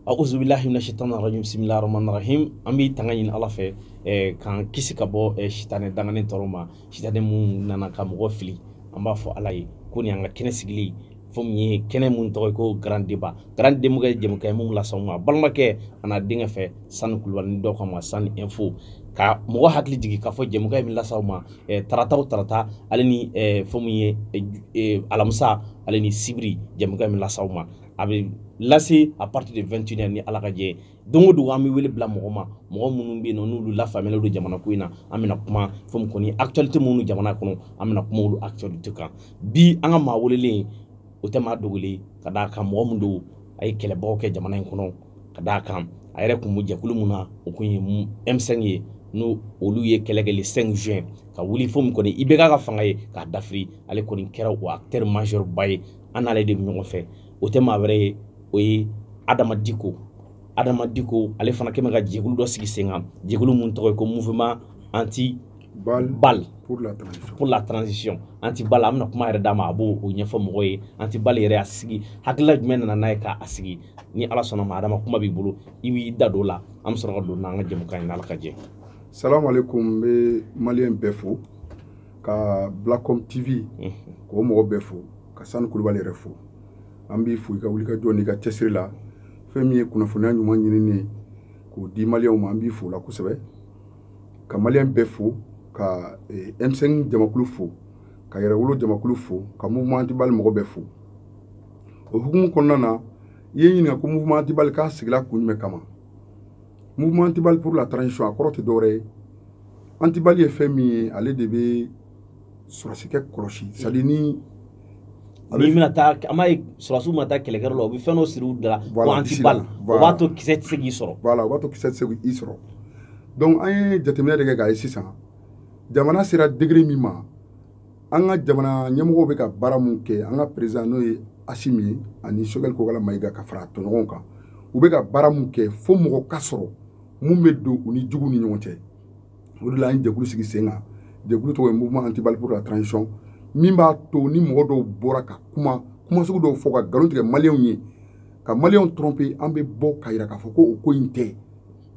auzubilahi mina shaitan rajim bisimilahi rahmani rahim an bɛ tanga ɲini ala fɛ eh, k'an kisi ka bɔ eh, sitanɛ danganen tɔɔrɔ ma sitanɛ min nana ka mɔgɔ fili an b'a fɔ ala ye ko nin y'an ka kɛnɛ sigili fo min ye kɛnɛ mun tɔgɔ ye ko grand débat grand débat ye jɛmukan ye mun las'aw ma balimakɛ an'a denkɛ fɛ sani kulubali ni dɔ k'a ma sani info ka mɔgɔ hakili jigin k'a fɔ jɛmukan min las'aw ma eh, tarata o tarata ale ni eh, fo min ye eh, eh, alamisa ale ni sibiri jɛmukan min las'aw ma a bɛ lase à partir de 21h ni ala ka jɛ ye don o don an bɛ wele bila mɔgɔ ma mɔgɔ minnu bɛ yen nɔ n'olu lafaamuyalen don jamana ko in na an bɛna kuma fɛn min kɔni actualité minnu jamana kɔnɔ an bɛna kuma olu actualité kan bi an ka maa welelen o tɛ maa dogolen ka d'a kan mɔgɔ min don a ye kɛlɛbaw kɛ jamana in kɔnɔ ka d'a kan a yɛrɛ tun bɛ jɛkulu min na o tun ye M5 ye n'o olu ye kɛlɛ kɛ le 5 juin ka wuli fo min kɔni IBK ka fanga ye k'a dafiri ale kɔni kɛra o acteur majeur ba ye an n'ale de bɛ ɲɔgɔn fɛ o tɛ maa wɛrɛ ye o ye adama diko adama diko ale fana kɛmɛ ka jɛkulu dɔ sigi sen kan jɛkulu mun tɔgɔ ye ko mouvement anti bal, bal pour la transition pour la transition anti bal an bɛna kuma yɛrɛ d'a ma a b'o ɲɛfɔ mɔgɔ ye anti bal yɛrɛ a sigi hakilila jumɛn nana n'a ye k'a sigi ni ala sɔnn'a ma adama kuma b'i bolo i b'i da don o la an bɛ sɔrɔ ka don n'an ka jɛmukan ye n'ala ka jɛ salamu aleykum n bɛ maliyɛn bɛɛ fo ka blacom tv mhm. k'o mɔgɔ bɛɛ fo ka sani kulubali yɛrɛ fo an b'i fo i ka wulikajɔ n'i ka cɛsiri la fɛn min ye kunnafoniya ɲuman ɲinini ye k'o di maliyɛnw ma an b'i fo o la kosɛbɛ ka maliyɛn bɛɛ fo ka eh, M5 jamakulu fo ka yɛrɛwolo jamakulu fo ka mouvement antibali mɔgɔ bɛɛ fo o hukumu kɔnɔna na i ye n ɲininka ko mouvement antibali k'a sigila kun jumɛn kama mouvement antibali pour la transition a kɔrɔ tɛ dɔwɛrɛ ye antibali ye fɛn min ye ale de bɛ sɔrɔsikɛ kɔlɔsi c'est à dire ni n'i bɛna taa an b'a ye sɔrɔsiw bɛna taa kɛlɛkɛyɔrɔ la u bɛ fɛn dɔ siri u da la ko antibali o b'a to kisɛ tɛ se k'i sɔrɔ voilà o b'a to kisɛ tɛ se k'i sɔrɔ donc an ye jateminɛ de kɛ k'a ye sisan jamana sera degré min ma an ka jamana ɲɛmɔgɔw bɛ ka baara min kɛ an ka président n'o ye asimi ye ani sogɛli kokala mayiga ka fara a tɔɲɔgɔnw kan u bɛ ka baara min kɛ fo mɔgɔ ka sɔrɔ mun bɛ don u ni juguw ni ɲɔgɔn cɛ o de la an ye jɛkulu sigi sen kan jɛkulu tɔgɔ ye mouvement antibali pour la transition min b'a to ni mɔgɔ dɔw bɔra ka kuma kuma sugu dɔw fɔ ka nkalon tigɛ maliyɛnw ye ka maliyɛnw tromper an bɛ bɔ k'a yira k'a fɔ ko o ko in tɛ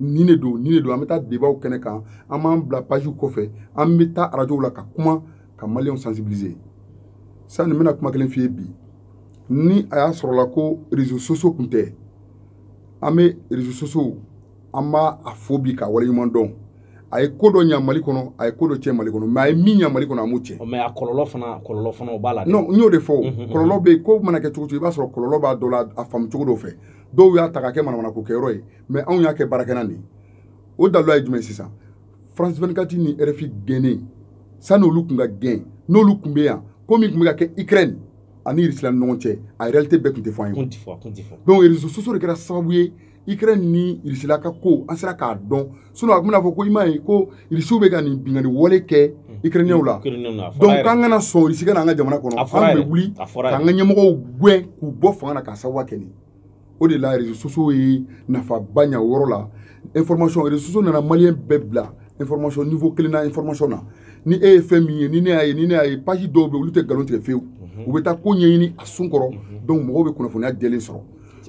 nin de don nin de don an bɛ taa débatw kɛnɛ kan an b'an bila pajiw kɔfɛ an bɛ taa arajow la ka kuma ka maliyɛnw sensibiliser sani n bɛna kuma kelen f'i ye bi ni a y'a sɔrɔla ko réseaux sociaux kun tɛ an bɛ réseaux sociaux an b'a fo bi ka waleɲuman dɔn a ye ko dɔ ɲa mali kɔnɔ a ye ko dɔ tiɲɛ mali kɔnɔ mais a ye min ɲa mali kɔnɔ a m'o tiɲɛ mais a kɔlɔlɔ fana kɔlɔlɔ fana o b'a la non n y'o de fɔ kɔlɔlɔ bɛ yen ko mana kɛ cogo cogo i b'a sɔrɔ kɔlɔlɔ b'a dɔ la a faamu cogo dɔw fɛ dɔw y'a ta ka kɛ manamanako kɛyɔrɔ ye mais anw y'a kɛ baarakɛlan de ye o daluya ye jumɛn sisan france 24 ni rfi gɛnnen sani olu kun ka gɛn n'olu kun bɛ yan ko min kun bɛ ka kɛ ukraine ani irisila ni ɲɔgɔn cɛ a réalité bɛɛ kun tɛ fɔ an ye donc réseaux sociaux de kɛra sababu ye ukraine ni irisila ka ko an sera k'a dɔn sinon a kun bɛna fɔ ko i m'a ye ko irisiw bɛ ka nin binkanni wale kɛ ukrainiyɛnw la donc k'an kana sɔn irisi ka na an ka jamana kɔnɔ an bɛ wuli k'an ka ɲɛmɔgɔw gɛn k'u bɔ fanga na k'a sababuya kɛ nin o de la réseaux sociaux ye nafaba ɲa o yɔrɔ la information réseaux sociaux nana maliyɛn bɛɛ bila information niveau kelen na information na ni e ye fɛn min ye ni ne y'a ye ni ne y'a ye page dɔw bɛ olu tɛ nkalon tigɛ fewu u bɛ taa ko ɲɛɲini a sun kɔrɔ donc mɔgɔw bɛ kunnafoniya jɛlen sɔrɔ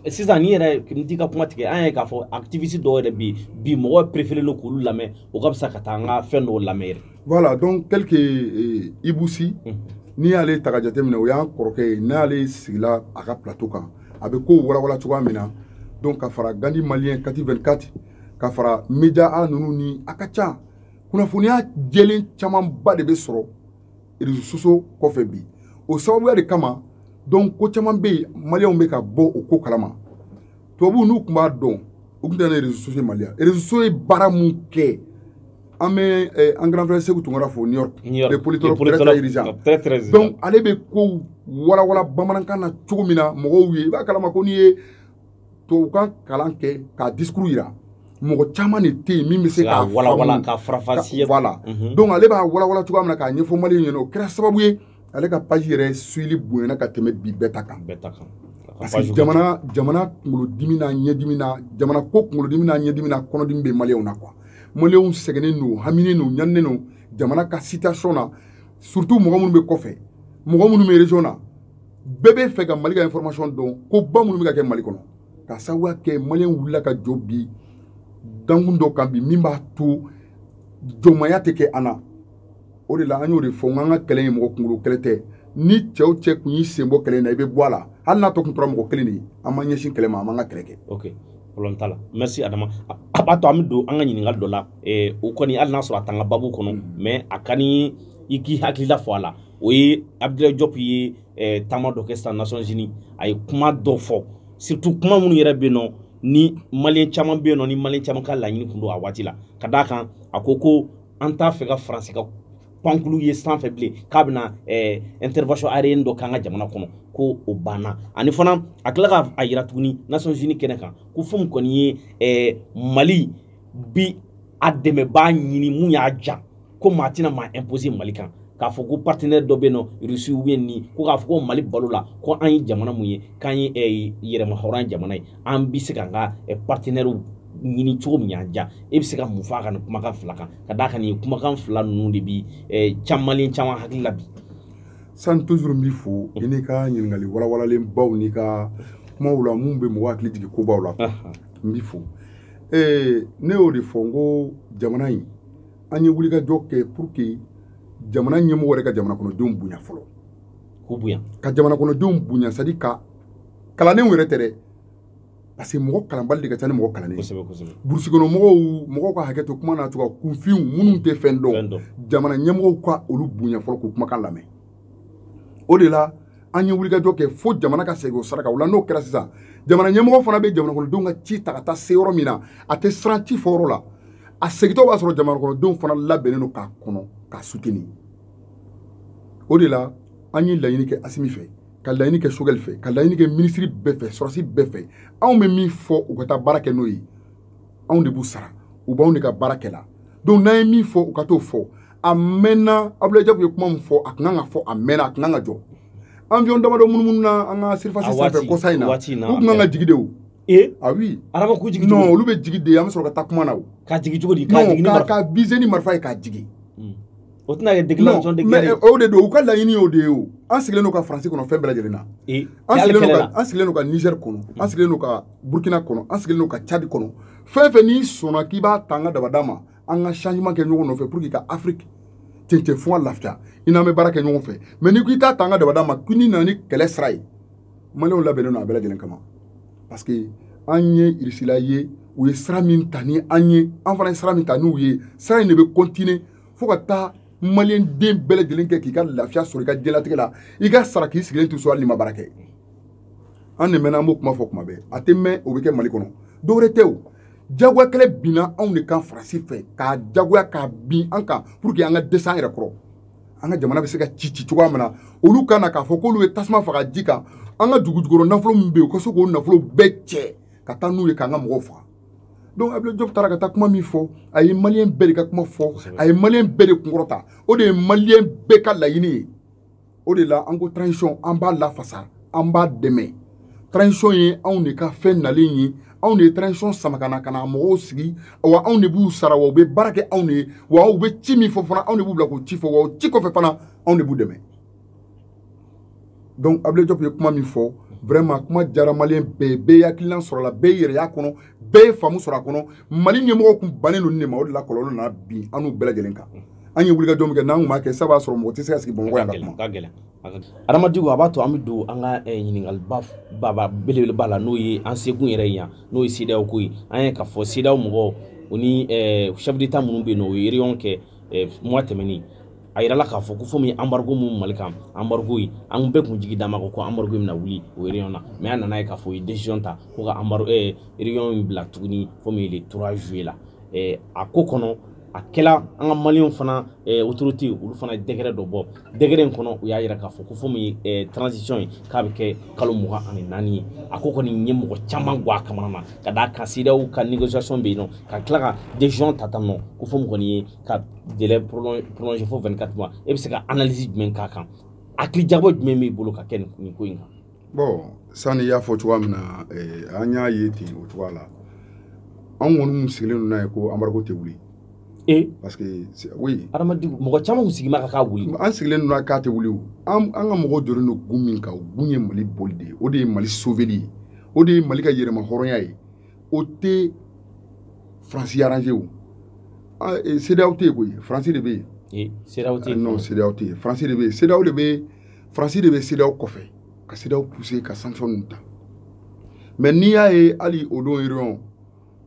sisan ni yɛrɛ n t'i ka kuma tigɛ an ye k'a fɔ activiste dɔw yɛrɛ bɛ yen bi mɔgɔ préféré don k'olu lamɛn o ka fisa ka taa an ka fɛn dɔw lamɛn yɛrɛ voilà donc tel que eh, ibou sy mhm. n'i y'ale ta ka jateminɛ o y'an kɔrɔkɛ ye n'ale sigila a ka plateau kan a bɛ kow walawala cogoya min na donc ka fara gandi maliyɛn kati 24 ka fara media a ninnu ni a ka ca kunnafoniya jɛlen camanba de bɛ sɔrɔ réseaux sociaux kɔfɛ bi o sababuya de kama donc ko caman bɛ yen maliyɛnw bɛ ka bɔ o ko kalama tubabuw n'u tun b'a dɔn u tun tɛ na ni réseaux sociaux ye mali la réseaux sociaux ye baara mun kɛ an bɛ eh, an grand frère seku tunkara fo new york le politologue très dirigeant donc ale bɛ kow walawala bamanankan na cogo min na mɔgɔw ye i b'a kalama ko n'i ye tubabukan kalan kɛ k'a discours yira mɔgɔ caman de tɛ yen min bɛ se k'a walawala k'a faranfasiya voilà mhm. donc ale b'a walawala cogoya min na k'a ɲɛfɔ maliyɛnw ɲɛna o kɛra sababu ye ale ka page yɛrɛ suivili bonyana ka tɛmɛ bi bɛɛ ta kan bɛɛ ta kan parce que jamana jamana kunkolodimi n'a ɲɛdimi na jamana ko kunkolodimi n'a ɲɛdimi n'a kɔnɔdimi bɛ maliyɛnw na quoi maliyɛnw sɛgɛnnen don haminen don ɲaninen don jamana ka situation na surtout mɔgɔ minnu bɛ kɔfɛ mɔgɔ minnu bɛ region na bɛɛ b'a fɛ ka mali ka information dɔn ko ba minnu bɛ ka kɛ mali kɔnɔ k'a sababuya kɛ maliyɛnw wulila ka jɔ bi dankun dɔ kan bi min b'a to jɔnmaya tɛ kɛ an na o de la an y'o de fɔ n k'an ka kɛlɛ ye mɔgɔ kunkolo kɛlɛ tɛ ni cɛ o cɛ kun y'i sen bɔ kɛlɛ in na i bɛ bɔ a la hali n'a tɔ kun tora mɔgɔ kelen de ye an ma ɲɛsin kɛlɛ ma an b'an ka kɛlɛ kɛ. ok problème t'a la merci adama a b'a to an bɛ don an ka ɲininkali dɔ la eh, o kɔni hali n'a sɔrɔ a t'an ka babu kɔnɔ mm. mais a ka ni i k'i hakilila fɔ a la o ye abdulayi jɔp ye eh, taama dɔ kɛ sisan nations unies a ye kuma dɔ fɔ surtout kuma minnu yɛrɛ bɛ yen nɔ ni maliyɛn caman bɛ yen nɔ ni maliyɛn caman ka laɲini tun don a waati la ka d'a kan a ko ko an t'a fɛ ka faransi ka pankulu ye sanfɛ bilen k'a bɛna eh, intervention aérienne dɔ k'an ka jamana kɔnɔ ko o banna ani fana a tila ka a yira tuguni nations unies kɛnɛ kan ko fɛn min kɔni ye eh, mali bi a dɛmɛbaa ɲini mun y'a ja ko maa tɛna maa imposer mali kan k'a fɔ ko partenaire dɔ bɛ yen nɔ rusi ou bien ni ko k'a fɔ ko mali bal'o la ko an ye jamana mun ye k'an ye eh, yɛrɛmahɔrɔnya jamana ye an bɛ se k'an ka partenaires ɲini cogo min y'an ja e bɛ se ka mun fɔ a ka nin kumakan fila kan ka d'a kan nin kumakan fila ninnu de bi maliyɛn caman hakili la bi. san toujours n b'i fo i n'i ka ɲininkali walawalalenbaw n'i ka kumaw la mun bɛ mɔgɔ hakili jigin kobaw la n b'i fo ee ne y'o de fɔ n ko jamana in an ye wulikajɔ kɛ pour que jamana ɲɛmɔgɔ yɛrɛ ka jamanakɔnɔdenw bonya fɔlɔ k'u bonya ka jamanakɔnɔdenw bonya c'est à dire ka kalandenw yɛrɛ tɛ dɛ parce que mɔgɔ kalanbali de ka ca ni mɔgɔ kalannen burusi kɔnɔ mɔgɔw mɔgɔw ka hakɛ to kuma na cogoya kunfinw minnu tɛ fɛn dɔn jamana ɲɛmɔgɔw ka olu bonya fɔlɔ k'u kumakan lamɛn o de la an ye wulikajɔ kɛ fo jamana ka segin o sira kan o la n'o kɛra sisan jamana ɲɛmɔgɔ fana bɛ jamanakɔnɔdenw ka ci ta ka taa se yɔrɔ min na a tɛ siran ci fɔ yɔrɔ la a segintɔ b'a sɔrɔ jamanakɔnɔdenw fana labɛnnen don k'a kɔnɔ k'a soutenir o de la an ye laɲini kɛ asimi fɛ ka laɲini kɛ sogɛli fɛ ka laɲini kɛ minisiri bɛɛ fɛ sɔrɔsi bɛɛ fɛ anw bɛ min fɔ u ka taa baara kɛ n'o ye anw de b'u sara u b'anw de ka baara kɛ la donc n'an ye min fɔ u ka t'o fɔ a mɛnna abulayi jɔp ye kuma min fɔ a tun kan ka fɔ a mɛnna a tun kan ka jɔ avion damadɔ munumununa an ka surface sanfɛ kɔsa in na u tun kan ka jigi de o ee ah oui araba k'u jigi non olu bɛ jigi de an bɛ sɔrɔ ka taa kuma na o k'a jigi cogo di k'a jigi ni marifa k'a viser ni marifa ye k'a jigi o tɛna kɛ déclaration de guerre mais o de don u ka laɲini y'o de ye o an sigilen don ka faransi kɔnɔ fɛn bɛɛ lajɛlen na an sigilen don ka an sigilen don ka niger kɔnɔ an sigilen don ka burkina kɔnɔ an sigilen don ka cadi kɔnɔ fɛn fɛn n'i sɔnna k'i b'a ta an ka dabada ma an ka changement kɛ ɲɔgɔn nɔfɛ pour que ka afrique cɛncɛn fo ka lafiya i n'an bɛ baara kɛ ɲɔgɔn fɛ mais n'i ko i t'a ta an ka dabada ma ko n'i nana ni kɛlɛ sira ye maliyɛnw labɛnnen don a bɛɛ lajɛlen kama parce que an ye irisila ye u ye sira min ta ni an ye an fana ye sira min ta n'u ye sira in de bɛ continuer fo ka taa maliyɛn den bɛɛ lajɛlen kɛ k'i ka lafiya sɔrɔ i ka diɲɛlatigɛ la i ka sara k'i sigilen to so hali n'i ma baara kɛ an de mɛnna an b'o kuma fɔ kuma bɛɛ a tɛ mɛn o bɛ kɛ mali kɔnɔ dɔwɛrɛ tɛ o jagoya kɛlɛ binna anw de kan faransi fɛ k'a jagoya k'a bin an kan pour que an ka dɛsɛ an yɛrɛ kɔrɔ an ka jamana bɛ se ka ci ci cogoya min na olu ka na k'a fɔ k'olu ye tasuma faga ji kan an ka dugujukɔrɔ nafolo min bɛ yen u ka se k'o nafolo bɛɛ cɛ ka taa n'u ye k'an ka mɔgɔw faga donc abdoulaye diop taara ka taa kuma min fɔ a ye maliyɛn bɛɛ de ka kuma fɔ a ye maliyɛn bɛɛ de kunkɔrɔta o de ye maliyɛn bɛɛ ka laɲini ye o de la an ko transition an b'a lafasa an b'a dɛmɛ transition ye anw de ka fɛn nalen ye anw de ye transition sama ka na ka na mɔgɔw sigi wa anw de b'u sara wa u bɛ baara kɛ anw de ye wa u bɛ ci min fɔ fana anw de b'u bila k'o ci fɔ wa o ci kɔfɛ fana anw de b'u dɛmɛ donc abdoulaye diop ye kuma min fɔ vraiment kuma diyara maliyɛn bɛɛ ye bɛɛ ye hakilina sɔrɔ a la bɛɛ yɛrɛ y'a kɔnɔ bɛɛ ye faamu sɔrɔ a kɔnɔ mali ɲɛmɔgɔw kun bannen don nin de ma o de la kɔlɔlɔ nana bin an n'u bɛɛ lajɛlen kan an ye wulikajɔ min kɛ n'an kun m'a kɛ sabu a sɔrɔ mɔgɔ tɛ se ka sigi bamakɔ yan ka kuma adama diko a b'a to an bɛ don an ka eh, ɲininkaliba baba belebeleba la n'o ye an sekun yɛrɛ ye yan n'o ye sedaw ko ye an ye k'a fɔ sedaw mɔgɔw o ni eh, chef d'état minnu bɛ yen nɔ u ye réunion kɛ mois tɛmɛnen a yirala k'a fɔ ko fo min ye embargo min mali kan embargo in an bɛɛ kun jigi d'a ma ko ko embargo bɛna wuli o réunion na mais an nana ye k'a fɔ u ye décision ta ko ka embargo ɛɛ réunion in bila tuguni fo min ye le trois juillet la ɛɛ a ko kɔnɔ a kɛla an ka maliyɛnw fana ɛɛ autorité olu fana décret dɔ bɔ décret in kɔnɔ u y'a yira k'a fɔ ko fo min ye transition ye k'a bɛ kɛ kalo mugan ani naani ye a ko kɔni ye mɔgɔ caman gwan a kamana na ka d'a kan sedaw ka négociation bɛ yen nɔ ka tila ka décision ta tan nɔ ko fo min kɔni ye ka délai prolonger fo 24 mois e bɛ se ka analyse jumɛn k'a kan hakili jagabɔ jumɛn b'i bolo ka kɛ nin ko in kan bon sani i y'a fɔ cogoya min na eh, an y'a ye ten o cogoya la an kɔni mun sigilen don n'a ye ko embargo tɛ wuli e parce que oui adamaden mɔgɔ caman kun sigima ka k'a wuli an sigilen don k'a tɛ wuli an ka mɔgɔw jɔlen don kun min kan o kun ye mali bɔli de ye o de ye mali soveli ye o de ye mali ka yɛrɛmahɔrɔnya ye o tɛ faransi arranger o sedaw tɛ yen koyi faransi de bɛ yen sedaw tɛ yen non sedaw tɛ yen faransi de bɛ yen sedaw de bɛ faransi de bɛ sedaw kɔfɛ ka sedaw pousser ka sanction ninnu ta mais n'i y'a ye hali o don réunion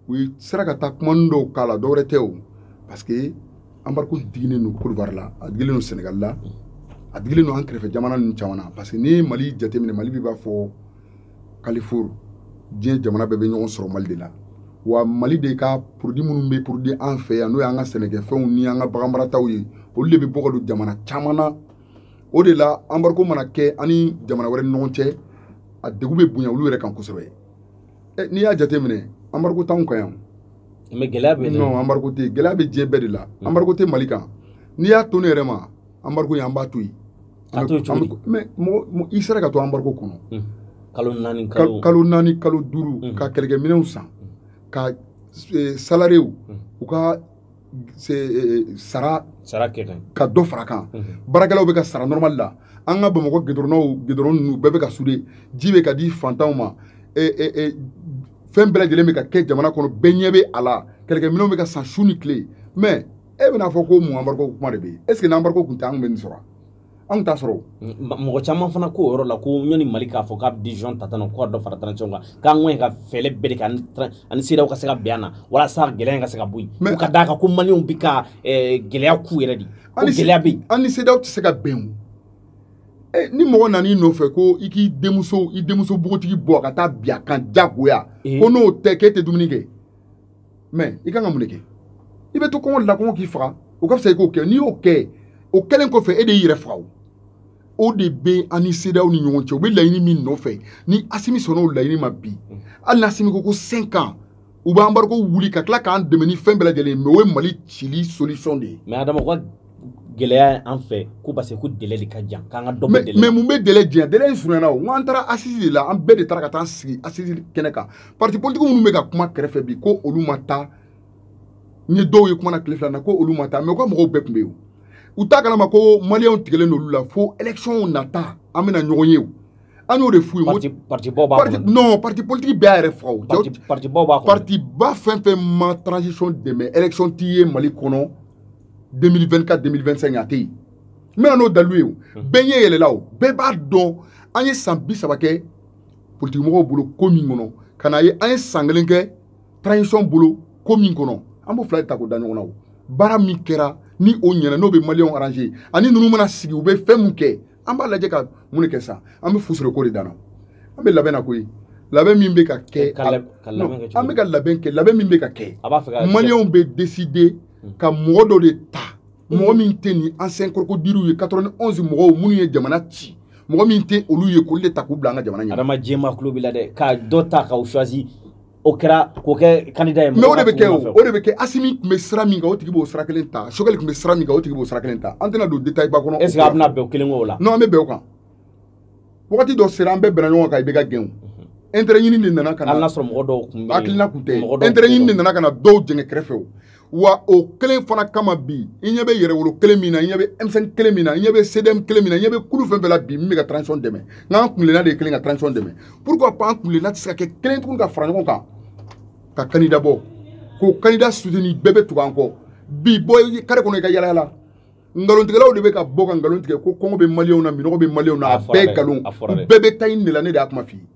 u yɛrɛ sera ka taa kumani dɔw k'a la dɔwɛrɛ tɛ o parce que embargo digilen don kɔdiwari la a digilen don sɛnɛgali la a digilen don an kɛrɛfɛ jamana ninnu caman na parce que n'i ye mali jateminɛ mali b'i b'a fɔ carrefour diɲɛ jamana bɛɛ bɛ ɲɔgɔn sɔrɔ mali de la wa mali de ka produit minnu bɛ produit an fɛ yan n'o y'an ka sɛnɛkɛfɛnw ni an ka baganmarataw ye olu de bɛ bɔ ka don jamana caman na o de la anbariko mana kɛ an ni jamana wɛrɛ ni ɲɔgɔn cɛ a degun bɛ bonya olu yɛrɛ kan kosɛbɛ n'i y'a jateminɛ anbariko t'anw kan yan mɛ gɛlɛya bɛ non anbariko tɛ gɛlɛya bɛ diɲɛ bɛɛ de la anbariko tɛ mali kan n'i y'a to ne yɛrɛ ma anbariko ye an b'a to yen a to cogo di mɛ mɔgɔ i sera ka to anbariko kɔnɔ kalo naani kalo kalo naani kalo duuru ka kɛlɛkɛminɛnw san ka salariéw u ka eh, sara sara ka dɔ fara kan baarakɛlaw bɛ ka sara normal la an ka bamakɔ gidɔrɔnnaw gidɔrɔn ninnu bɛɛ bɛ ka sude ji bɛ ka di fantanw ma fɛn bɛɛ lajɛlen bɛ ka kɛ jamana kɔnɔ bɛɛ ɲɛ bɛ a la kɛlɛkɛminɛnw bɛ ka san su ni tile mɛ e bɛna fɔ ko mun anbariko kuma de bɛ yen est ce que n'anbariko tun tɛ an bɛ nin sɔrɔ anw t'a sɔrɔ mɔgɔ caman fana ko yɔrɔ la ko ɲɔni mali k'a fɔ k'a bɛ décision ta tan ko ka dɔ fara transition kan k'an ŋɔɲɛ ka fɛɛlɛ bɛɛ de kɛ an ni seedaw ka se ka bɛn a na walasa gɛlɛya ka se ka bɔ yen ka d'a kan ko maliyɛnw bɛ ka gɛlɛya k'u yɛrɛ de ko gɛlɛya bɛ yen an ni seedaw tɛ se ka bɛn o ni mɔgɔ nan'i nɔfɛ ko i k'i denmuso i denmuso bogotigi bɔ ka taa bin a kan jagoya ko n'o tɛ k'e tɛ dumuni kɛ mɛ i kan ka mun de kɛ i bɛ to kɔngɔ de la kɔngɔ k'i faga o ka fisa i k'o kɛ n'i y'o kɛ o kɛlen kɔfɛ e de y'i yɛrɛ faga o o de bɛ an ni sedaw ni ɲɔgɔn cɛ u bɛ laɲini min nɔfɛ ni asimi sɔnna o laɲini ma bi hali ni asimi ko ko cinq ans u b'anbariko wuli ka tila k'an dɛmɛ ni fɛn bɛɛ lajɛlen mɛ o ye mali cili solution de ye. mɛ adama ko gɛlɛya an fɛ ko parce que ko délai de ka jan k'an ka dɔ bɔ délai mais mun bɛ délai janya délai in surunyana o n ko an taara assise de la an bɛɛ de taara ka taa an sigi assise kɛnɛ kan parti politique minnu bɛ ka kuma kɛrɛfɛ bi ko olu ma taa n ye dɔw ye kuma na tile fila na ko olu ma taa mɛ u ka mɔgɔw bɛɛ tun bɛ yen u t'a kalama ko maliyɛnw tigɛlen n'olu la fo électionw nata an bɛna ɲɔgɔn ye o an y'o de f'u ye parti parti baw b'a kɔnɔ non parti politique bɛɛ y'a yɛrɛ faga o parti parti baw b'a kɔnɔ parti ba fɛn fɛn ma transition dɛmɛ élection t'i ye mali kɔnɔ 2024 2025 a tɛ yen n bɛna n'o dalilu ye o bɛɛ ɲɛ yɛlɛla o bɛɛ b'a dɔn an ye san bi saba kɛ politikimɔgɔw bolo ko min kɔnɔ ka n'a ye an ye san kelen kɛ transition bolo ko min kɔnɔ an b'o fila de ta k'o da ɲɔgɔn na o baara min kɛra ni o ɲɛna n'o bɛ maliyɛnw arrange ani ninnu mana sigi u bɛ fɛn mun kɛ an b'a lajɛ ka mun de kɛ sa an bɛ fusoroko de danna an bɛ labɛn na koyi labɛn min bɛ ka kɛ an bɛ ka labɛn kɛ labɛn min bɛ ka kɛ maliyɛnw bɛ décider ka mɔgɔ dɔ de ta mɔgɔ min tɛ nin ancien crocodilew ye 91 mɔgɔw minnu ye jamana ci mɔgɔ min tɛ olu ye k'olu de ta k'u bila an ka jamana ɲɛ adama jama tulo b'i la dɛ ka dɔ ta k'aw choisi o kɛra k'o kɛ kandida ye mɛ o de bɛ kɛ o o de bɛ kɛ asimi tun bɛ sira min kan o tigi b'o sira kelen ta sogɛli tun bɛ sira min kan o tigi b'o sira kelen ta an tɛna don detail ba kɔnɔ est ce que a bɛna bɛn o kelen kan o la non an bɛ bɛn o kan wagati dɔ sera an bɛɛ bɛnna ɲɔgɔn kan ibk gɛn o intérêt ɲini de nana ka na hali n'a sɔrɔ mɔgɔ dɔw tun bɛ yen hakilina tun tɛ intérêt ɲini de nana ka na dɔw jɛngɛ kɛrɛfɛ o wa o kelen fana kama bi i ɲɛ bɛ yɛrɛwolo kelen min na i ɲɛ bɛ m5 kelen min na i ɲɛ bɛ cdm kelen min na i ɲɛ bɛ kulu fɛn fɛn la bi min bɛ ka transition dɛmɛ n'an kuntilenna de ye kelen ka transition dɛmɛ pourquoi pas an kuntilenna tɛ se ka kɛ kelen tuguni ka fara ɲɔgɔn kan ka candidat bɔ k'o candidat soutenir bɛɛ bɛ tugu an kɔ bi bɔ kare kɔnɔ i ka yalayala nkalontigɛlaw de bɛ ka bɔ ka nkalon tigɛ ko kɔngɔ bɛ maliyɛnw na minɔgɔ bɛ maliyɛnw na a bɛɛ nkalon u bɛɛ bɛ ta ɲini de la ne de y'a kuma f'i ye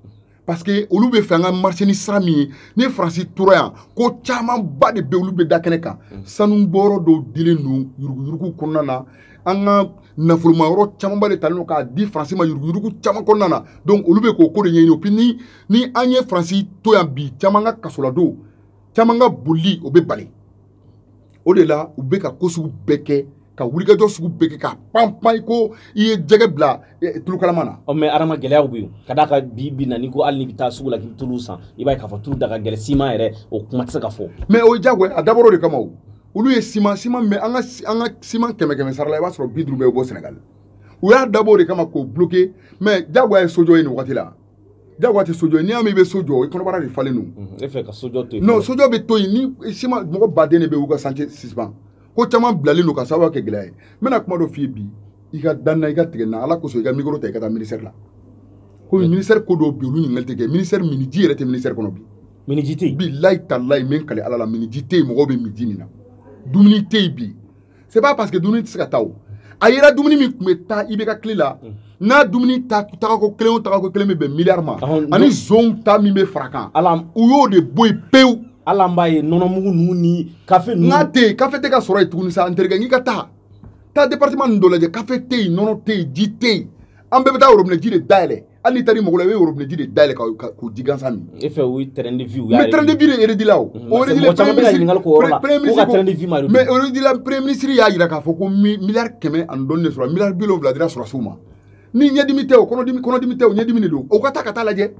parce que olu b'a fɛ an ka marché ni sira min ye ni faransi tora yan ko camanba de bɛ olu bɛ da kɛnɛ kan mm. sanu bɔyɔrɔ dɔw dilen don yuruguyurugu kɔnɔna na an ka nafoloma yɔrɔ camanba de talen don k'a di faransi ma yuruguyurugu caman kɔnɔna na donc olu bɛ k'o ko de ɲɛɲini puis ni ni an ye faransi to yan bi caman ka kasoladon caman ka bolili o bɛ bali o de la u bɛ ka ko sugu bɛɛ kɛ ka wulikajɔ sugu bɛɛ kɛ ka panpan ko i ye jɛgɛ bila eh, tulukalama na. ɔ mais adama gɛlɛyaw bɛ yen ka d'a kan bi bi in na n'i ko hali n'i bɛ taa sugu la k'i bɛ tulu san i b'a ye k'a fɔ tulu da ka gɛlɛn siman yɛrɛ o kuma tɛ se ka fɔ. mais o ye jagoya a dabɔra o de kama o olu ye siman siman min an ka an ka siman kɛmɛ kɛmɛ sara la i b'a sɔrɔ bi duuru bɛɛ bɛ bɔ sɛnɛgali u y'a dabɔ o de kama k'o bloke mais jagoya ye sojɔ ye nin wagati la. jagoya tɛ sojɔ n'i y'a mɛn i bɛ so jɔ i kɔnɔbara de falen don. Mhm, e fɛ ka sojɔ to yen. non sojɔ bɛ to yen ni siman mɔgɔ baden de bɛ yen u ka chantier suspend ko caman bilalen don ka sababu kɛ gɛlɛya ye n bɛna kuma dɔ f'i ye bi i ka da n na i ka tigɛ n na ala kosɔn i ka mikoro ta i ka taa ministère la komi ministère ko dɔw bɛ yen olu ɲininkali tɛ kɛ ministère miniji yɛrɛ tɛ ministère kɔnɔ bi. miniji tɛ yen. bilayi talayi n bɛ n kali ala la miniji tɛ yen mɔgɔw bɛ miji min na dumuni tɛ yen bi c'est pas parce que dumuni tɛ se ka taa o a yera dumuni min tun bɛ taa ibk tile la mm. n'a dumuni ta tagako kelen o tagako kelen bɛ bɛn miliyari ma ani zonw ta min bɛ fara kan u y'o de bɔ yen pewu hali an b'a ye nɔnɔmugu ninnu ni kafe ninnu n'a tɛ yen kafe tɛ ka sɔrɔ yen tuguni sa n terikɛ n k'i ka taa taa département ninnu dɔ lajɛ kafe tɛ yen nɔnɔ tɛ yen ji tɛ yen an bɛɛ bɛ taa worobinɛji de dayɛlɛ hali n'i taara i mago la i bɛ worobinɛji de dayɛlɛ k'o ji gansan min. e fɛ o ye train de vie u y'a ye. mais train de vie de réduit la o. Mm, o réduit la premier ministre ko ka train de vie ma de. mais réduit la premier ministre y'a jira k'a fɔ ko miliyari kɛmɛ ani dɔɔni de sɔrɔ miliyari bi wolonwula dira sɔrɔdasiw ma ni ɲɛdimi tɛ o kɔnɔdimi kɔnɔdimi tɛ o ɲɛdimi de don o ka taa ka taa lajɛ.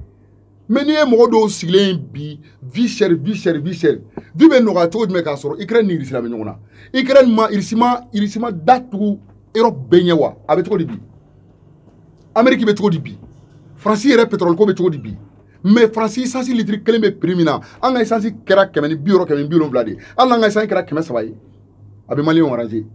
mais n'i ye mɔgɔ dɔw sigilen ye bi vie chère vie chère vie chère vie bɛ nɔgɔya cogo jumɛn k'a sɔrɔ ikirɛni ni irisi la bɛ ɲɔgɔn na ikirɛni ma irisi ma irisi ma da tugu erɔpu bɛɛ ɲɛ wa a bɛ cogo di bi ameriki bɛ cogo di bi faransi yɛrɛ pɛtɔrɔli ko bɛ cogo di bi mais faransi isansi litiri kelen bɛ prix min na an ka isansi kɛra kɛmɛ ni bi wɔɔrɔ kɛmɛ ni bi wolonwula de ye hali n'an ka isansi kɛra kɛmɛ saba ye a bɛ maliyɛnw aranze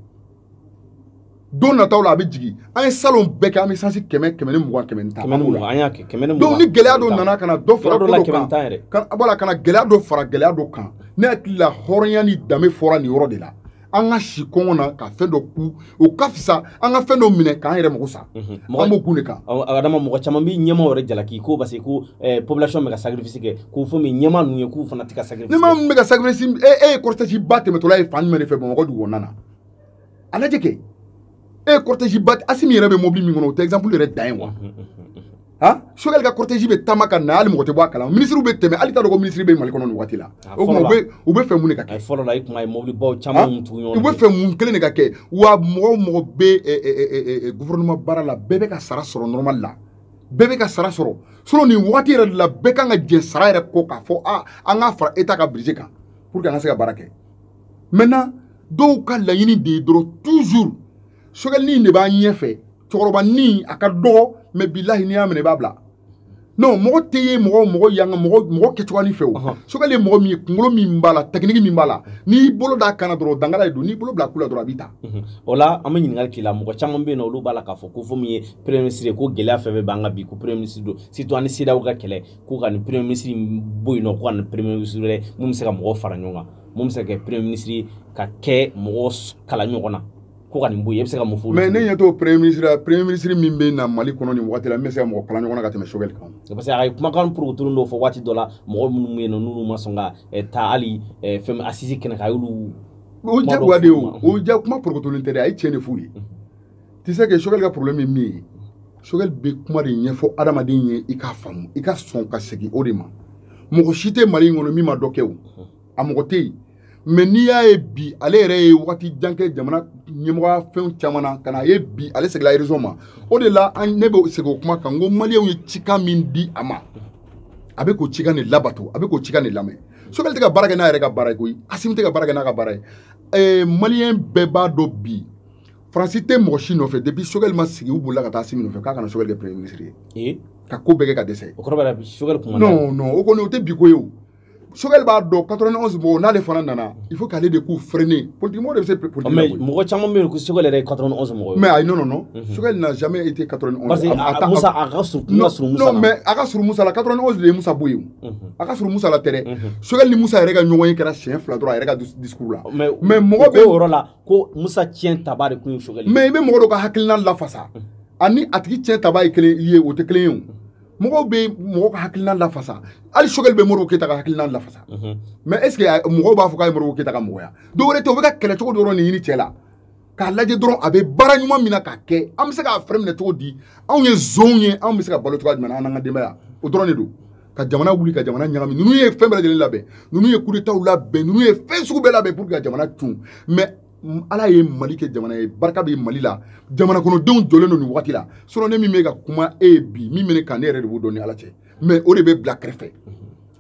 don nataw la a bɛ jigin an ye salon bɛɛ kɛ an bɛ sansi kɛmɛ kɛmɛ ni mugan kɛmɛ ni tan kɛmɛ ni mugan an y'a kɛ kɛmɛ ni mugan donc ni gɛlɛya dɔ nana ka na dɔ fara ko dɔ kan voilà ka na gɛlɛya dɔ fara gɛlɛya dɔ kan ne hakili la hɔrɔnya ni danbe fɔra nin yɔrɔ de la an ka si kɔngɔ na ka fɛn dɔ kun o ka fisa an ka fɛn dɔ minɛ k'an yɛrɛ mago sa mhm. an b'o kun de kan adama mɔgɔ caman bɛ ɲɛmaaw yɛrɛ jalaki ko parce que ko eh, population bɛ ka sacrifice kɛ ko fo min ɲɛmaa ninnu ye k'u fana tɛ ka sacrifice ɲɛmaa min bɛ ka sacrifice e e ye cortège ba tɛmɛtɔla ye fan jumɛn de fɛ bamakɔ dugu kɔnɔna na a lajɛ kɛ e ye cortège ba asimi yɛrɛ bɛ mobili min kɔnɔ o tɛ exemple yɛrɛ dan ye wa han choguel ka cortège bɛ taama ka na hali mɔgɔ tɛ bɔ a kalama minisiriw bɛ tɛmɛ hali t'a dɔn ko minisiri bɛ mali kɔnɔ nin waati la o tuma u bɛ u bɛ fɛ mun de ka kɛ fɔlɔ la i tun b'a ye mobilibaw caman tugu ɲɔgɔn u bɛ fɛ mun kelen de ka kɛ wa mɔgɔ o mɔgɔ bɛ gouvernement baara la bɛɛ bɛ ka sara sɔrɔ normal la bɛɛ bɛ ka sara sɔrɔ sinon nin waati yɛrɛ de la bɛɛ kan ka jɛn sara yɛrɛ kɔ k'a fɔ a an k'a fara état ka budget kan pour que an ka se ka baara kɛ maintenant dɔw ka laɲini de ye dɔrɔn toujours choguel nin de b'a ɲɛfɛ cɛkɔrɔba nin a ka dɔgɔ mais bilahi n'i y'a minɛ i b'a bila non mɔgɔ tɛ ye mɔgɔ mɔgɔ yanga mɔgɔ mɔgɔ kɛcogoya nin fɛ o choguel ye mɔgɔ min ye kunkolo min b'a la technique min b'a la n'i bolo d'a kan na dɔrɔn dangala de don n'i bolo bila ku la dɔrɔn a b'i ta mhm. o la an bɛ ɲininkali k'i la mɔgɔ caman bɛ yen nɔ olu b'a la k'a fɔ ko fo min ye premier ministre ye ko gɛlɛya fɛn fɛn b'an kan bi ko premier ministre don surtout an ni cedeao ka kɛlɛ k'u ka nin premier ministre bɔ yen nɔ ko ka nin premier ministre wɛrɛ min bɛ se ka mɔgɔw fara ɲɔgɔn kan min bɛ se ka kɛ premier ministre ye ka kɛ mɔgɔ kala ɲɔgɔn na ko ka nin bɔ yen e bɛ se ka mun fɔ mais ne ɲɛ t'o premier ministre la premier ministre min bɛ na mali kɔnɔ nin waati la min bɛ se ka mɔgɔ kala ɲɔgɔn na ka tɛmɛ choguel kan parce que a ye kumakan porokotolen dɔ fɔ waati dɔ la mɔgɔ minnu bɛ yen nɔ n'olu ma sɔn ka eh, taa hali eh, fɛn assises kɛnɛ kan a y'olu o jagoya de ye o o ja kuma porokotolen tɛ dɛ a ye tiɲɛ de f'u ye tu sais que choguel ka problème ye min ye choguel bɛ kuma de ɲɛfɔ adamaden ye i k'a faamu i ka sɔn ka segin o de ma mɔgɔ si tɛ mali in kɔnɔ min ma dɔ kɛ o a mɔgɔ tɛ yen mais n'i y'a ye bi ale yɛrɛ ye waati jan kɛ jamana ɲɛmɔgɔya fɛnw caman na ka na a ye bi ale seginla raison ma o de la an ne bɛ segin o kuma kan n ko maliyɛnw ye cikan min di a ma a bɛ k'o cikan de labato a bɛ k'o cikan de lamɛn choguel tɛ ka baara kɛ n'a yɛrɛ ka baara ye koyi asimi tɛ ka baara kɛ n'a ka baara ye maliyɛn bɛɛ b'a dɔn bi faransi tɛ mɔgɔ si nɔfɛ depuis choguel ma sigi u bolila ka taa asimi nɔfɛ k'a kana choguel kɛ premier ministre ye eh? ka ko bɛɛ kɛ ka dɛsɛ o kɔrɔ b'a la choguel kuma non non o kɔni o tɛ bi ko ye o choguel b'a dɔn 91 mɔgɔw n'ale fana nana il faut k'ale de k'u freiner politique mɔgɔ de bɛ se politique la mais mɔgɔ caman bɛ yen ko choguel yɛrɛ ye 91 mɔgɔw ye mais ayi non non non mhm. choguel n'a jamais été 91 parce que a musa a ka surun kuma surun musa la non mais a ka surun musa la 91 de ye musa bɔ yen mhm. a ka surun musa la tɛ dɛ mhm. choguel ni musa yɛrɛ ka ɲɔgɔn ye kɛra siɲɛ fila dɔrɔn a yɛrɛ ka discours la mais mɔgɔ bɛ o yɔrɔ la ko musa tiɲɛ taba de tun ye sogɛli mais i bɛ mɔgɔ dɔ ka hakilina lafasa mm. ani a tigi tiɲɛ taba ye kelen ye o tɛ kelen ye o mɔgɔw bɛ mɔgɔ ka hakilina lafasa hali sogɛli bɛ modibo keyita ka hakilina lafasa mais mm-hmm. est ce que mɔgɔw b'a fɔ k'a ye modibo keyita ka mɔgɔ ye dɔ wɛrɛ tɛ o bɛ ka kɛlɛ cogo dɔrɔn de ɲini cɛ la k'a lajɛ dɔrɔn a bɛ baara ɲuman min na k'a kɛ an bɛ se k'a fɛrɛ minɛ cogo di anw ye jeunew ye anw bɛ se ka balo cogoya jumɛn na an n'an ka denbaya o dɔrɔn de don ka jamana wuli ka jamana ɲagami ninnu ye fɛn bɛɛ lajɛlen labɛn ninnu ye kudetaw labɛn ninnu ye fɛn sugu bɛɛ labɛn pour que ka jamana cun mais ala ye mali kɛ jamana ye barika bɛ mali la jamana kɔnɔdenw jɔlen don nin wagati la sinon ne min bɛ ka kuma e ye bi min bɛ ne kan ne yɛrɛ de b'o dɔn ni ala cɛ mais o de bɛ bila kɛrɛfɛ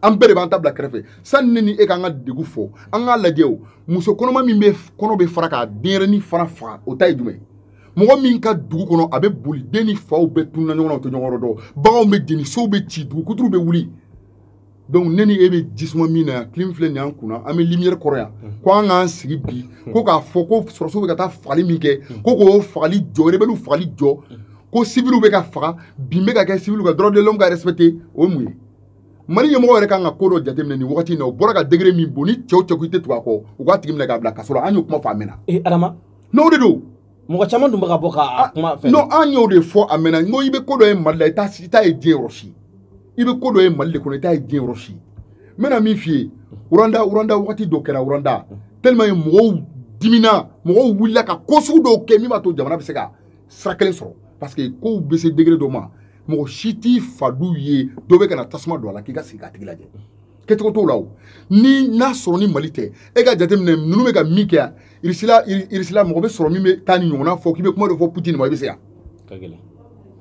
an bɛɛ de b'an ta bila kɛrɛfɛ sani ne ni e k'an ka degun fɔ an k'a lajɛ o muso kɔnɔma min bɛ kɔnɔ bɛ fara k'a denyɛrɛni fana faga o ta ye jumɛn ye mɔgɔ min ka dugu kɔnɔ a bɛ boli den ni faw bɛɛ tununa ɲɔgɔn na u tɛ ɲɔgɔn yɔrɔ dɔn baganw bɛ jeni sow bɛ ci dugu kuturu bɛ wuli donc ne ni e bɛ jisuma min na yan clim filɛ nin y'an kunna an bɛ lumière kɔrɔ yan ko an k'an sigi bi ko k'a fɔ ko sɔrɔdasiw bɛ ka taa fagali min kɛ ko k'o fagali jɔ rebeliw fagali jɔ ko civiliw bɛ ka faga bin bɛ ka kɛ civiliw kan droit de l'homme ka respecter o ye mun ye mali ɲɛmɔgɔ yɛrɛ kan ka ko dɔ jateminɛ nin wagati in na o bɔra ka degré min bon ni cɛw cɛ ko i tɛ tugu a kɔ u k'a tigi minɛ k'a bila kaso la an y'o kuma fɔ a mɛnna adama n'o de don mɔgɔ caman dun bɛ ka bɔ ka ah, kuma fɛ non an y'o de fɔ a mɛnna n ko i bɛ ko dɔ ye mali la i t'a i t'a ye diɲɛ yɔrɔ si i bɛ ko dɔ ye mali de kɔnɔ i t'a ye diɲɛ yɔrɔ si n bɛna min f'i ye rwanda rwanda wagati dɔ kɛra rwanda tellement yen mɔgɔw dimina mɔgɔw wulila ka ko sugu dɔw kɛ min b'a to jamana bɛ se ka sira kelen sɔrɔ parce que kow bɛ se degré dɔ ma mɔgɔ si t'i fa du ye dɔ bɛ ka na tasuma don a la k'i ka sigi k'a tigi lajɛ kɛcogo t'o la o ni n'a sɔrɔ ni mali tɛ e ka jateminɛ ninnu bɛ ka min kɛ yan irisi la irisi la mɔgɔ bɛ sɔrɔ min bɛ taa nin ɲɔgɔnna fɔ k'i bɛ kuma dɔ fɔ putin ma i bɛ se yan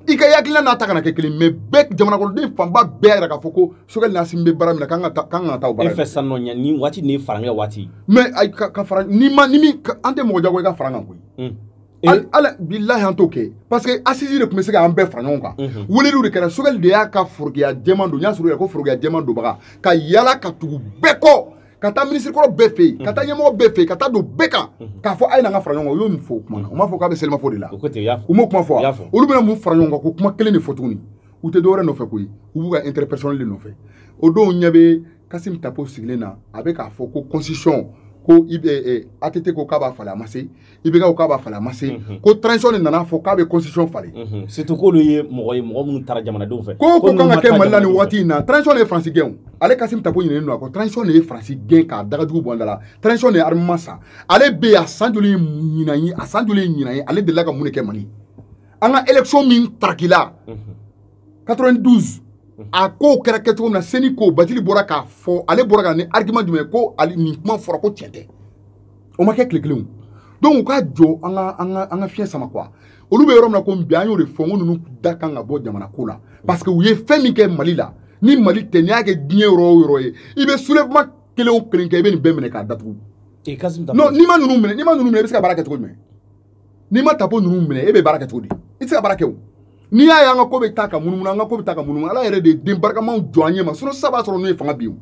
i ka hakilina n'a ta kana kɛ kelen mais bɛɛ jamana kɔnɔden fanba bɛɛ yɛrɛ k'a fɔ ko sogɛli n'asimi bɛ baara min na k'an ka taa k'an ka taa o baara e fɛ san nɔ ɲɛ ni waati ni farankɛ waati mais ka fara ni ma ni min an tɛ mɔgɔ jagoya ka fara an kan koyi ala bilahi an t'o kɛ parce que assise de tun bɛ se k'an bɛɛ fara ɲɔgɔn kan mhm. weleliw de kɛra sogɛli de y'a ka forokiya jɛman don n y'a sɔrɔ yɛrɛ ko forokiya jɛman donbaga ka yala ka tugu bɛɛ kɔ ka taa minisirikɔrɔ bɛɛ fɛ yen ka taa mhm. ɲɛmɔgɔ bɛɛ fɛ yen ka taa don bɛɛ kan mhm. k'a fɔ a ye na an ka fara ɲɔgɔn kan u y'o min fɔ o kuma na u m'a fɔ k'a bɛ selimafo de la u m'o kuma fɔ wa olu bɛna mun fara ɲɔgɔn kan ko kuma kelen de fɔ tuguni u tɛ dɔwɛrɛ nɔfɛ koyi u b'u ka intérêt personnel de nɔfɛ o don n ɲɛ bɛ kasimi tapo sigilen na a bɛ k'a fɔ ko constitution ko i bɛ eh, eh, ATT ko k'a b'a falen a ma se IBK ko k'a b'a falen a ma se mhm. ko transition de nana fɔ k'a bɛ constitution falen mhm. surtout k'olu ye mɔgɔ ye mɔgɔ minnu taara jamanadenw fɛ ko ko kan ka kɛ mali la nin waati in na transition de ye faransi gɛn ale kasimi tapo ɲinɛnen don a kɔ transition de ye faransi gɛn k'a dagajugu bɔ an da la transition de ye armement san ale bɛ yen a san joli ye ɲinan ye a san joli ye ɲinan ye ale delila ka mun de kɛ mali an ka élection min tarakila mhm. 92 a kow kɛra kɛcogo min na seni ko batili bɔra k'a fɔ ale bɔra ka ni argument jumɛn ye ko ale nin kuma fɔra ko tiɲɛ tɛ o ma kɛ tile kelen donc u ka jɔ an ka an ka an ka fiɲɛ sama quoi olu bɛ yɔrɔ min na ko bi an y'o de fɔ n ko ninnu da kan ka bɔ jamana ko la parce que u ye fɛn min kɛ mali la ni mali tɛ n'i y'a kɛ diɲɛ yɔrɔ o yɔrɔ ye i bɛ soulèvement kelen o kelen kɛ i bɛ nin bɛɛ minɛ k'a datugu non n'i ma ninnu minɛ n'i ma ninnu minɛ i bɛ se ka baara kɛ cogo jumɛn n'i ma tapo ninnu minɛ e bɛ baara kɛ cogo di i tɛ se ka baara kɛ o n'i y'a ye an ka ko bɛ taa ka munumunu an ka ko bɛ taa ka munumunu ala yɛrɛ de ye den barikamaw jɔ an ɲɛ ma sinon sisan b'a sɔrɔ n'o ye fanga bi ye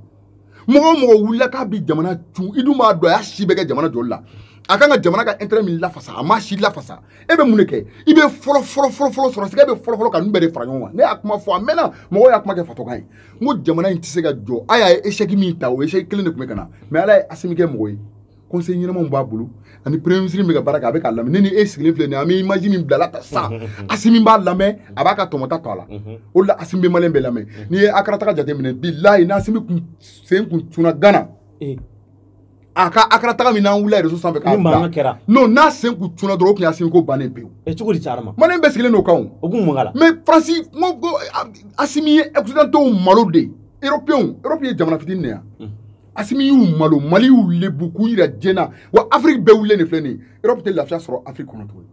mɔgɔ o mɔgɔ wulila k'a bi jamana cun i dun b'a dɔn a y'a si bɛɛ kɛ jamana jɔli la a kan ka jamana ka intérêt min lafasa a ma si lafasa e bɛ mun de kɛ i bɛ fɔlɔ fɔlɔ fɔlɔ fɔlɔ sɔrɔ sɛgɛ bɛ fɔlɔ fɔlɔ ka ninnu bɛɛ de fara ɲɔgɔn kan ne y'a kuma fɔ a mɛnna mɔgɔw y'a kuma kɛ fatɔkan ye n ko jamana in tɛ se ka jɔ a y'a ye échec min ta o échec kelen de tun bɛ ka na mais ala ye asimi kɛ mɔgɔ ye conseil ɲɛnamaw b'a bolo ani premier ministre bɛ ka baara kɛ a bɛ k'a lamɛn ne ni e sigilen filɛ nin ye an bɛ image min bilala ta sisan mhm, mhm, mhm. Asimi b'a lamɛn a b'a ka tɔmɔta to a la o de la Asimi bɛ maliyɛn bɛɛ lamɛn n'i ye akara taga jateminɛ bilahi ni Asimi kun sen kun donna Gana eh. a ka akara taga min n'an wulila réseau sanfɛ k'a bila non n'a sen kun donna dɔrɔn o tun ye Asimi ko bannen pewu eh, cogo di cayara ma maliyɛn bɛɛ sigilen don o kan o o kun mun k'a la mais Faransi n ko Asimi ye occidentaux malo de ye européens europe ye jamana fitini de ye asimi y'u malo mali y'u lebu k'u yira diɲɛ na wa afiriki bɛɛ wulilen de filɛ nin ye europe tɛ lafiya sɔrɔ afiriki kɔnɔ tuguni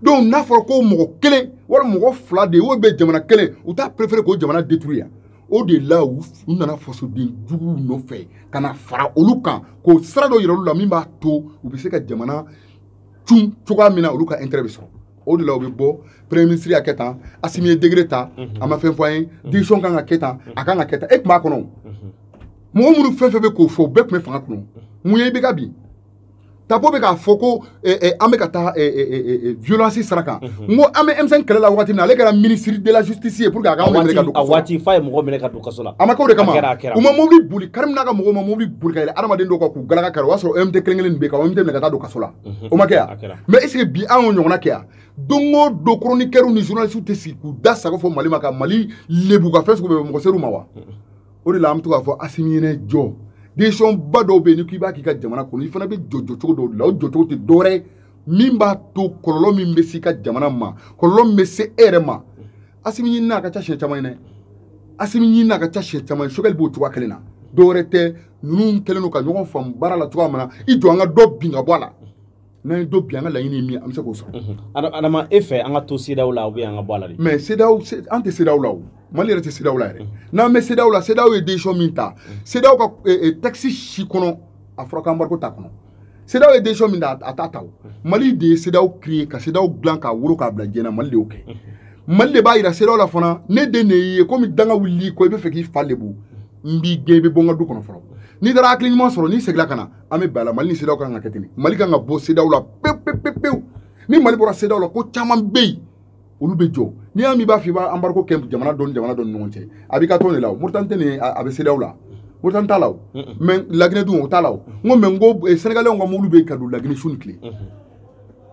donc n'a fɔra ko mɔgɔ kelen wala mɔgɔ fila de ye o bɛ jamana kelen u t'a préféré k'o jamana détruire yan o de la u nana fasoden juguw nɔfɛ ka na fara olu kan k'o sira dɔ yira olu la min b'a to u bɛ se ka jamana cun cogoya min na olu ka intérêt bɛ sɔrɔ o de la u bɛ bɔ premier ministre y'a kɛ tan asimi ye décret ta a ma fɛn fɔ an ye décision kan ka kɛ tan a kan ka kɛ tan e tun b'a kɔnɔ mɔgɔ minnu fɛn fɛn bɛ k'o fɔ bɛɛ tun bɛ fanga kɔnɔ mun ye IBK bin tapo bɛ k'a fɔ ko an bɛ ka taa violence sira kan n ko an bɛ M5 kɛlɛ la waati min na ale kɛra ministre de la justice ye pour que a ka anw minɛ ka don a waati f'a ye mɔgɔ minɛ ka don kaso la a ma kɛ o de kama u ma mobili boli karimu n'a ka mɔgɔw ma mobili boli ka yɛlɛ adamaden dɔw kan k'u galaka kari o y'a sɔrɔ OMT kelen kelen bɛ yen ka OMT minɛ ka taa don kaso la o ma kɛ yan mais est ce que bi an y'o ɲɔgɔnna kɛ yan don o don chroniqueurs ni journalistes tɛ sigi k'u da sago fɔ mali ma ka mali lebu ka fɛn sugu bɛɛ mɔgɔ ser'u ma wa o de la an bɛ to k'a fɔ asimi ɲinɛ jɔ décision ba dɔw bɛ yen ni k'i b'a k'i ka jamana kɔnɔ i fana bɛ jɔ jɔcogo dɔw de la o jɔcogo tɛ dɔwɛrɛ ye min b'a to kɔlɔlɔ min bɛ se i ka jamana ma kɔlɔlɔ min bɛ se e yɛrɛ ma asimi ɲinina a ka ca siɲɛ caman ye dɛ asimi ɲinina a ka ca siɲɛ caman ye sogɛli b'o cogoya kelen na dɔwɛrɛ tɛ ninnu kɛlen don ka ɲɔgɔn faamu baara la cogoya min na i jɔ an ka dɔ bin ka bɔ a la n'an ye dɔ bin an ka laɲini ye min ye an bɛ se k'o sɔrɔ adama e fɛ an ka to CEDEAO la ou bien an ka bɔ a la de mais CEDEAO an tɛ CEDEAO la o mali yɛrɛ tɛ CEDEAO la yɛrɛ n'an bɛ CEDEAO la CEDEAO ye décision min ta CEDEAO ka texte si kɔnɔ a fɔra ko embargo t'a kɔnɔ CEDEAO ye décision min ta a t'a ta o mali de ye CEDEAO créé ka CEDEAO dilan k'a wolo k'a bila diɲɛ na mali de y'o kɛ mali de b'a yira CEDEAO la fana ne den de y'i ye komi danga wulili ko i bɛ fɛ k'i fa lebu n b'i gɛn i bɛ bɔ n ka du kɔnɔ fɔlɔ n'i taara hakili ɲuman sɔrɔ n'i segila ka na an bɛ bɛn a la mali ni CEDEAO kan ka kɛ ten mali kan ka bɔ CEDEAO la pewu pewu pewu ni mali bɔra CEDEAO la ko caman bɛ yen olu bɛ jɔ n'i y'a mɛn b'a fɔ i b'a embargo kɛ jamana dɔ ni jamana dɔ ni ɲɔgɔn cɛ a b'i ka tɔn de la o moritani tɛ nin a bɛ CEDEAO la moritani t'a la o mais laginɛ dun o t'a la o n ko mais n ko sɛnɛgalɛw ka mobili bɛ ka don laginɛ su ni tile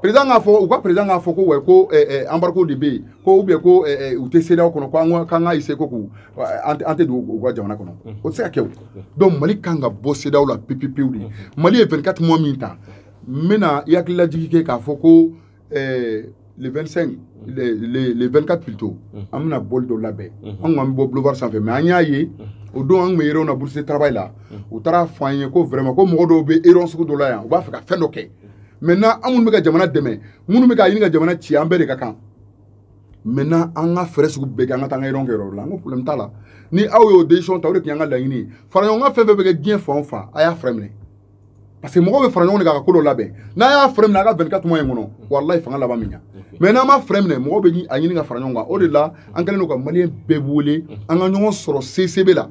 président k'a fɔ u ka président k'a fɔ ko ouais ko embargo de bɛ yen ko ou bien ko u tɛ CEDEAO kɔnɔ ko an k'an ka essayer ko k'u an tɛ don u ka jamana kɔnɔ o tɛ se ka kɛ o donc mali kan ka bɔ CEDEAO la pepepewu de mali ye 24 mois min ta n bɛna i hakililajigi kɛ k'a fɔ ko eh, le 25 le, le, le 24 plutôt mm. an bɛna bɔli dɔ labɛn mm -hmm. an kɔni bɔ boulevard sanfɛ mais an y'a ye mm. o don an tun bɛ réunion na bourse travail la mm. u taara fɔ an ye ko vraiment ko mɔgɔ dɔw bɛ réunion sugu dɔ la yan u b'a fɛ ka fɛn dɔ kɛ maintenant an minnu bɛ ka jamana dɛmɛ minnu bɛ ka ɲini ka jamana ci an bɛɛ de ka kan maintenant an ka fɛɛrɛ sugu bɛɛ kɛ an ka taa an ka réunion kɛ yɔrɔ la n ko problème t'a la ni aw y'o décision ta o de tun y'an ka laɲini ye faraɲɔgɔnkan fɛn fɛn bɛ kɛ diɲɛ fan o fan a y'a fɛɛrɛ minɛ parce que mɔgɔw bɛ fara ɲɔgɔn kan ka ko dɔ labɛn n'a y'a fɛɛrɛ minɛ a ka 24 mois in kɔnɔ walayi fanga laban min ɲa mais n'an ma fɛɛrɛ minɛ mɔgɔw bɛ a ɲini ka fara ɲɔgɔn kan o de la an kɛlen don ka maliyɛn bɛɛ wele an ka ɲɔgɔn sɔrɔ CICB la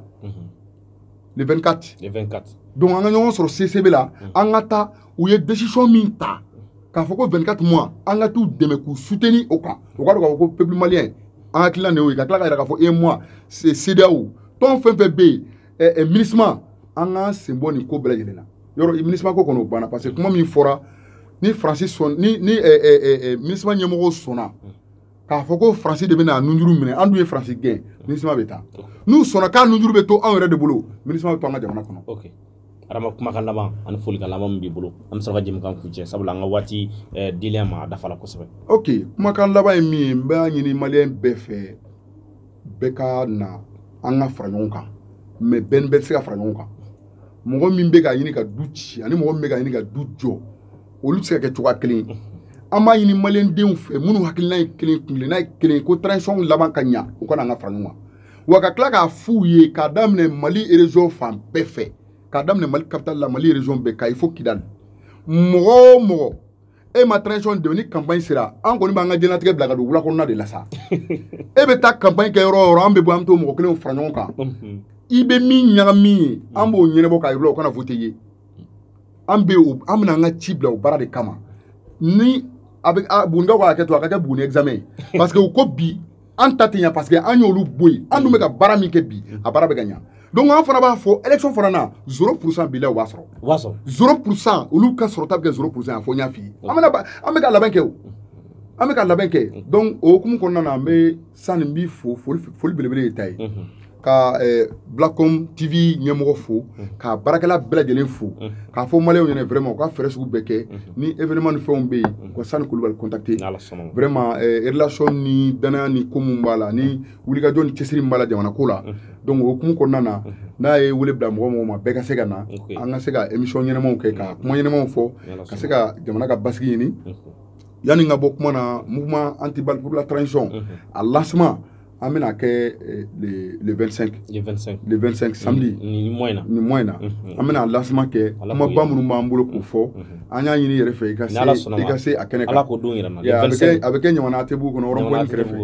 le 24 le 24 donc an ka ɲɔgɔn sɔrɔ CICB la an ka taa u ye décision min ta k'a fɔ ko 24 mois an ka t'u dɛmɛ k'u soutenir o kan o ka dɔn k'a fɔ ko peuple malien an hakilina de y'o ye ka tila ka yira k'a fɔ e mois CEDEAO tɔn fɛn fɛn bɛ yen ɛ ɛ MINUSMA an k'an sen bɔ nin ko bɛɛ lajɛlen na yɔrɔ MINUSMA ko kɔni o banna parce que kuma min fɔra ni faransi sɔn ni ni ɛ ɛ ɛ MINUSMA ɲɛmɔgɔw sɔnna k'a fɔ ko faransi de bɛna nunjuru minɛ an dun ye faransi gɛn MINUSMA bɛ taa n'u sɔnna k'a nunjuru bɛ to anw yɛrɛ de bolo MINUSMA bɛ to an ka jamana kɔnɔ. Okay. adama kumakan laban ani folikan laban min b'i bolo an bɛ sɔrɔ ka jɛmukan kuncɛ sabula an ka waati eh, dilen ma a dafa la kosɛbɛ ok kumakan laban ye min ye n b'a ɲini maliyɛn bɛɛ fɛ bɛɛ ka na an ka fara ɲɔgɔn kan mais bɛɛ ni bɛɛ tɛ se ka fara ɲɔgɔn kan mɔgɔ min bɛ ka ɲini ka du ci ani mɔgɔ min bɛ ka ɲini ka du jɔ olu tɛ se ka kɛ cogoya kelen ye an b'a ɲini maliyɛndenw fɛ minnu hakilina ye kelen kuntilenna ye kelen ko transition laban ka ɲa u ka na an ka fara ɲɔgɔn kan wa ka tila k'a f'u ye k'a daminɛ mali région fan bɛɛ fɛ k'a daminɛ mali capitale la mali région bɛɛ kayi fo kidali mɔgɔ o mɔgɔ e ma transition dɛmɛ ni campagne sera an kɔni b'an ka diɲɛlatigɛ bila ka don wula kɔnɔna de la sa e bɛ taa campagne kɛ yɔrɔ o yɔrɔ an bɛ bɔ an bɛ t'o mɔgɔ kelenw fara ɲɔgɔn kan mhm. i bɛ min ɲagami ye an b'o ɲɛnabɔ k'a yir'u la u kana voter i ye an bɛ o an bɛna an ka ci bila o baara de kama ni bugunikaw ka hakɛ to a ka kɛ buguni examen ye parce que u ko bi an ta tɛ ɲa parce que an y'olu bɔ yen an dun bɛ ka baara min kɛ bi a baara bɛ ka ɲa donc an fana b'a fɔ élection fana na zéro pourcent bila u b'a sɔrɔ u b'a sɔrɔ zéro pourcent olu ka sɔrɔta bɛ kɛ zéro pourcent a fɔ n y'a f'i ye an bɛna an bɛ ka labɛn kɛ o an bɛ ka labɛn kɛ donc o hukumu kɔnɔna na an bɛ Sani n b'i fo foli belebele y'e ta ye ka eh, Blackcom TV ɲɛmɔgɔ fo mhm. ka baarakɛla bɛɛ lajɛlen fo mhm. k'a fɔ maliyɛnw ɲɛna vraiment u ka fɛɛrɛ sugu bɛɛ kɛ mhm. ni événement ni fɛnw bɛ yen u ka Sani Kulubali contacter vraiment eh, relation ni danaya ni ko min b'a la ni wulikajɔ ni cɛsiri min b'a la jamana ko la donc o hukumu kɔnɔna na n'a ye wele bila mɔgɔ mɔgɔ ma bɛɛ ka se ka na an ka se ka émission ɲɛnamaw kɛ ka kuma ɲɛnamaw fɔ ka se ka jamana ka basigi ɲini yanni n ka bɔ kuma na mouvement anti-balle pour la transition a lancement an bɛna kɛ eh, le le 25 le 25 le 25 samedi ni mois in na ni mois in na mhm. an bɛna lancement kɛ kumaba minnu b'an bolo k'o fɔ mhm. an y'a ɲini i yɛrɛ fɛ i ka se i ka se a kɛnɛ kan ala k'o don yira an na a bɛ kɛ a bɛ kɛ ɲamana ATTbugu kɔnɔ rond-point kɛrɛfɛ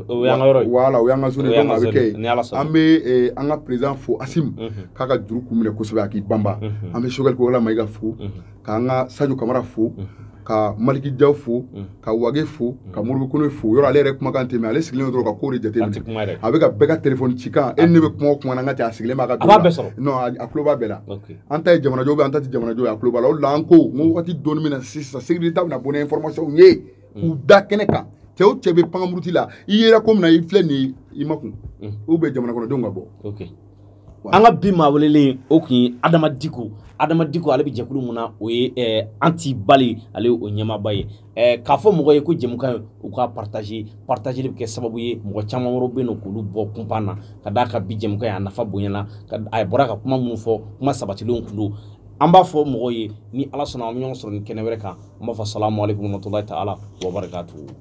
o y'an ka yɔrɔ ye voilà o y'an ka zone donc a bɛ kɛ yen an bɛ eh, an ka président fo asim mhm. k'a ka juru kun minɛ kosɛbɛ a k'i banba an bɛ sogɛli kokala mayiga fo k'an ka sajo kamara fo ka maliki jaw fo ka wage fo ka modibo kone fo yɔrɔ ale yɛrɛ kumakan tɛ mɛ ale sigilen dɔrɔn ka ko de jateminɛ a bɛ ka bɛɛ ka telefɔni cikan e ne bɛ kuma o kuma na n ka cɛ a sigilen b'a ka don la non a tulo b'a bɛɛ la an ta ye jamanajɔ bɛ an ta tɛ jamanajɔ ye a tulo b'a la o de la an ko n ko wagati dɔɔni min na sisan sécurité bɛna bɔ ni information ye k'u da kɛnɛ kan cɛ o cɛ bɛ pankamuruti la i yera ko min na i filɛ nin ye i makun ou bien jamanakɔnɔdenw ka bɔ an ka bi maa welelen o tun ye adama diko adama diko ale bɛ jɛkulu min na o ye eh, anti-balle ale o ɲɛmaaba ye eh, k'a fɔ mɔgɔw ye ko jɛmukan ye u k'a partager partageli bɛ kɛ sababu ye mɔgɔ caman wɛrɛw bɛ yen nɔ k'olu bɔ kunpan na ka d'a kan bi jɛmukan ye a nafa bonyana a bɔra ka kuma minnu fɔ kuma sabatilenw tun don an b'a fɔ mɔgɔw ye ni ala sɔnna an bɛ ɲɔgɔn sɔrɔ ni kɛnɛ wɛrɛ kan an b'a fɔ salamu aleykum warahmatulahi taala wabarakatuhu